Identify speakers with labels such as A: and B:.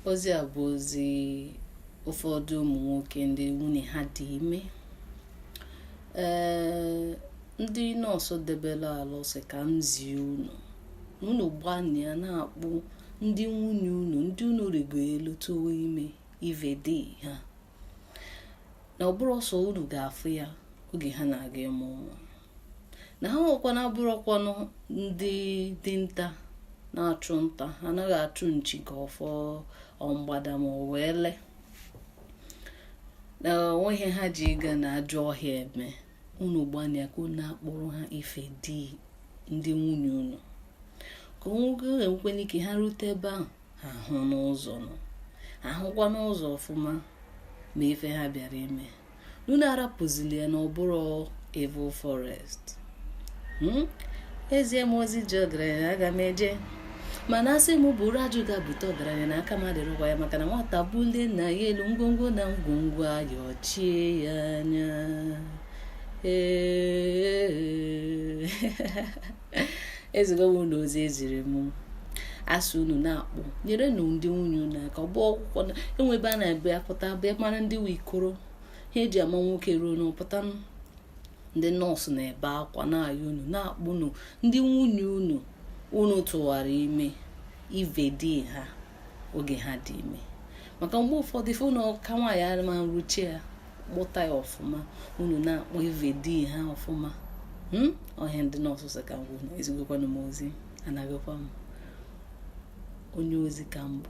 A: ozi a bụ ozi ụfọdụ ụmụ nwoke ndị nwunye ha dị ime ee ndị nọọsụ debere ala sị ka m zie unu unu gbanịa na-akpụ ndị nwunye unu ndị unu rigo elu tụwa ime ive di ha na ọ bụrọ sọ unu ga-afụ ya oge ha na-aga ịmụ nwa na ha nwa kwanụ abụrọkwanụ ndị dinta na-achụ nta ha anaghị achụ nchi ka ọ fọ mgbada ma ọ wụ ele na o nweghị ihe ha ji ịga na ajọ ọhịa eme unu gbanịa ka unu na-akpụrụ ha ife di ndị nwunye unu ka o nwekwanụ ike ha rute ebe ahụ ha hụnụ ụzọ nọ ha hụkwanụ ụzọ ọfụma mee ife ha bịara ime unu arapụzili ya na ọ bụrụ evil forest hmm? e zie m ozi zie ọgaranya aga m eje mana a sị m buru ajụ gaa bute ọgaranya na aka m adịrọkwa ya maka na nwata bulie nna ya elu ngwongwo na ngwongwo ayọchie ya anya ee ezigo m unu ozi e ziri m a sị unu na-akpụ nyerenụ ndị nwunye unu aka ọ bụ ọkwụkwọ enwe ebe a na-abịa pụta bịa mara ndị nwe ikoro ihe e ji ama nwoke ruo unu pụta ndị nọọsụ na-ebe akwa na-ayọ unu na-akpụnụ ndị nwunye unu unu tụwara ime ive di ha oge ha dị ime maka mgbe ụfọdụ ife nụ aka nwaanyị ama ruchie ya kpụta ya ọfụma unu na-akpụ ive di ha ọfụma hmm? ọ ihe ndị nọọsụ sị ka m gwa unu ezigokwanụ m ozi anaghịkwa m onye ozi ka m bụ